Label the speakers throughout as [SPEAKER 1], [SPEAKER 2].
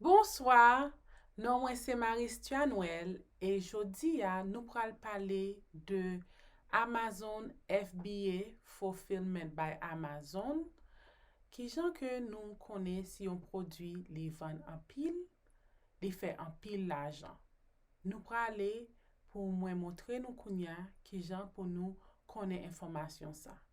[SPEAKER 1] Bonswa, non mwen se Maristhia Noël e jodi a nou pral pale de Amazon FBA, Fulfillment by Amazon, kijan ke nou konnen si yon pwodwi li vann anpil, li fè anpil lajan. Nou prale pou mwen montre nou kounya kijan pou nou konnen enfòmasyon sa.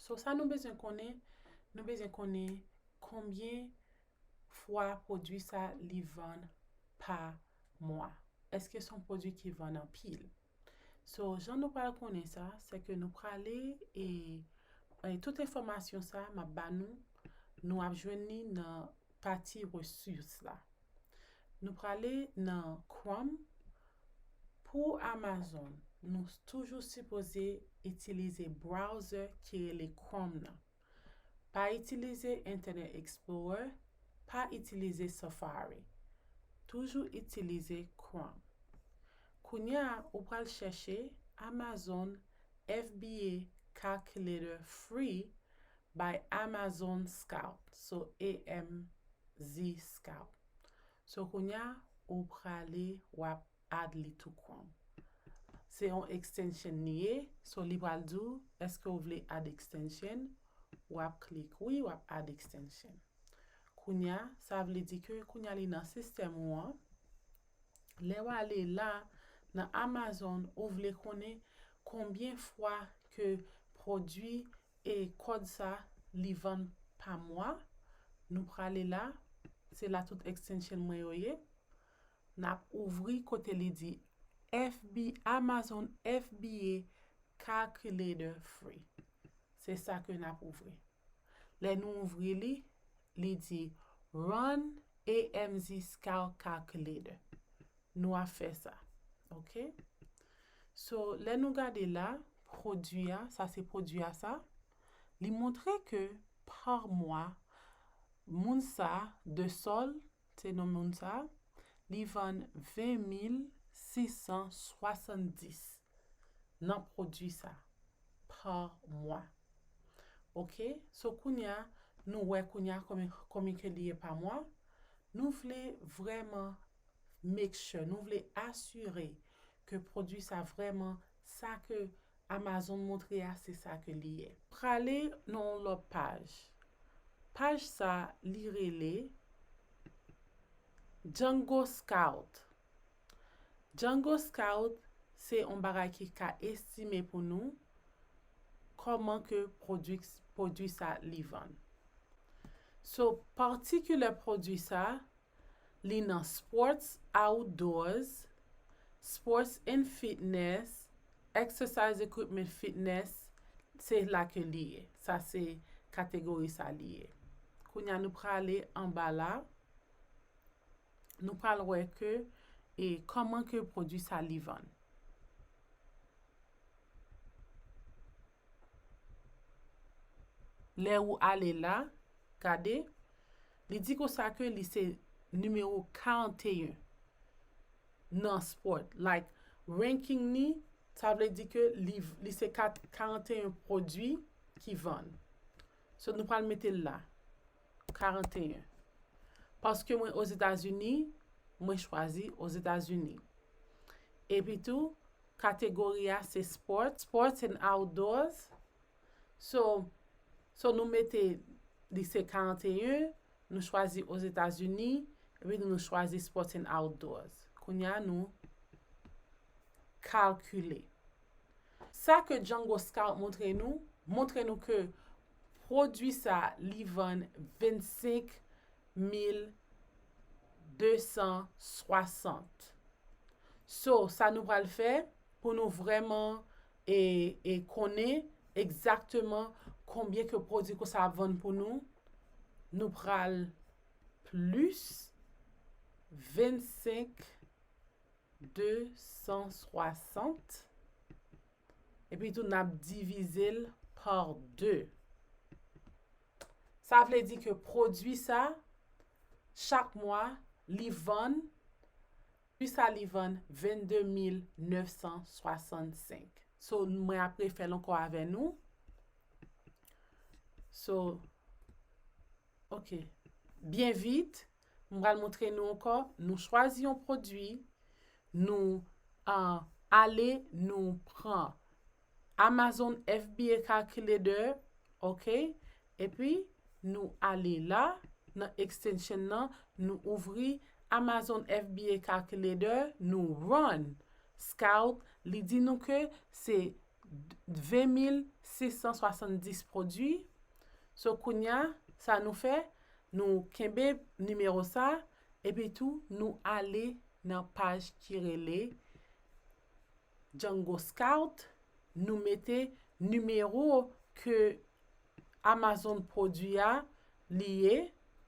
[SPEAKER 1] So sa nou bezwen konnen, nou bezwen konnen konbyen fwa pwodui sa li vann pa mwa. Eske son pwodui ki vann anpil. So jan nou pral konnen sa, se ke nou prale e tout enfòmasyon sa map ba nou, nou ap jwenn li nan pati resous la. Nou prale nan chrome Pou Amazon nou toujou sipoze itilize browser ki rele chrome nan Pa itilize internet explorer pa itilize safari Toujou itilize chrome Kounya ou pral chèche Amazon FBA calculator free By Amazon Scout So AMZ Scout So kounya ou prale wap add li tou chrome se yon extension li ye so li pral di w eske ou vle add extension wap click wi wap add extension kounya sa vle di ke kounya li nan system ou an lè w ale la nan Amazon ou vle konnen konbyen fwa ke produit E kòd sa li vann pa mwa nou prale la se la tout extension mwen yo ye nap ouvri kote li di FB Amazon FBA calculator free se sa ke nap ouvri lè nou ouvri li li di run AMZscalcalculator Nou a fè sa ok. So lè nou gade la pwodwi a sa se pwodwi a sa li montre ke pa mwa moun sa de sol se non moun sa li vann 20670 nan pwodwi sa pa mwa ok so kounya nou wè kounya konbyen ke li ye pa mwa nou vle vrèman Make sure, nou vle asire ke pwodwi sa vrèman sa ke Amazon montre a se sa ke li ye. Prale nan yon lòt paj. Paj sa li rele Django Scout. Django Scout se yon bagay ki ka estime pou nou kòman ke pwodwi pwodwi sa li vann. So, patikilè pwodwi sa Li nan sports outdoors, sports and fitness, exercise equipment fitness, se la ke li ye. Sa se kategori sa li ye. Kounya nou prale anba la, nou pral wè ke e koman ke pwodwi sa li vann. Lè ou ale la, gade, li di konsa ke li se nimewo 41 nan sport, like ranking ni, sa vle di ke li se 41 pwodui ki vann. So nou pral mete l la, 41. Paske mwen Ozetazini, mwen chwazi Ozetazini. Epitou, Kategori a se Sports, Sports and Outdoors. So, so nou mete li se 41, nou chwazi Ozetazini, epi nou chwazi Sports and Outdoors. Kounye a nou kalkile. Sa ke Django Scout montre nou, montre nou ke pwodui sa li vann 25 260. So sa nou pral fè pou nou vrèman e e konnen egzakteman konbyen ke pwodui konsa ap vann pou nou, nou pral plis 25 260. Epi tou nap divize l par 2. Sa vle di ke pwodui sa, chak mwa, li vann, pwi sa li vann 22965. So, mwen ap refè l ankò avè nou. So, ok. Byen vit. M pral montre nou ankò, nou chwazi yon pwodui, nou ale nou pran Amazon FBA Calculator, ok, epi nou ale la nan extension nan, nou ouvri Amazon FBA Calculator, nou run Scout, li di nou ke se 20670 pwodui, so kounya sa nou fè, Nou kenbe nimewo sa, epi tou nou ale nan paj ki rele Django Scout, nou mete nimewo ke Amazon pwodui a li ye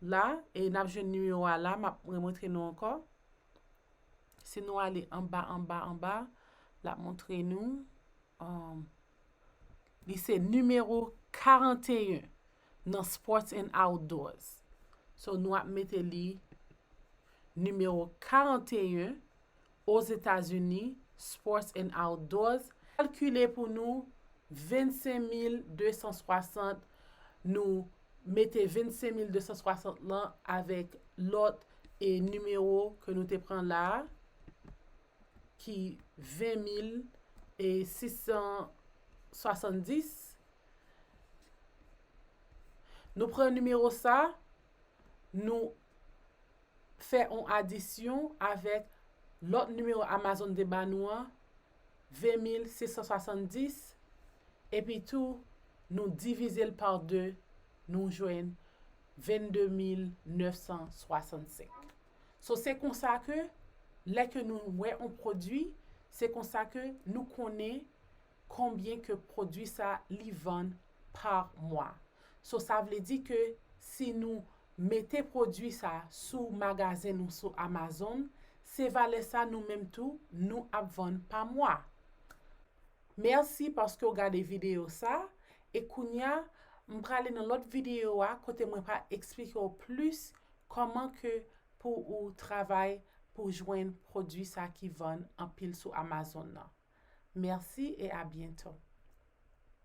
[SPEAKER 1] la, e n ap jwenn nimewo a la, m ap remontre nou ankò. Si nou ale anba anba anba, l ap montre nou, li se nimewo 41. nan sports and outdoors so nou ap mete li nimewo 41 Ozetazini sports and outdoors kalkile pou nou 25260 nou mete 25260 lan avèk lòt e nimewo ke nou te pran la a ki 20670 Nou pran nimewo sa, nou fè yon adisyon avèk lòt nimewo Amazon te ba nou an, 20670, epitou nou divize l pa 2, nou jwenn 22965. So, se konsa ke lè ke nou wè yon pwodui, se konsa ke nou konnen Konbyen ke pwodwi sa li vann par mwa. So sa vle di ke si nou mete pwodwi sa sou magazen nou sou Amazon se valè sa nou menm tou nou ap vann pa mwa. Merci paske w gade video sa e kounya m prale nan lot video a kote mwen pa eksplike w plis koman ke pou ou travay pou jwenn pwodwi sa ki vann anpil sou Amazon nan. Merci et à bientôt.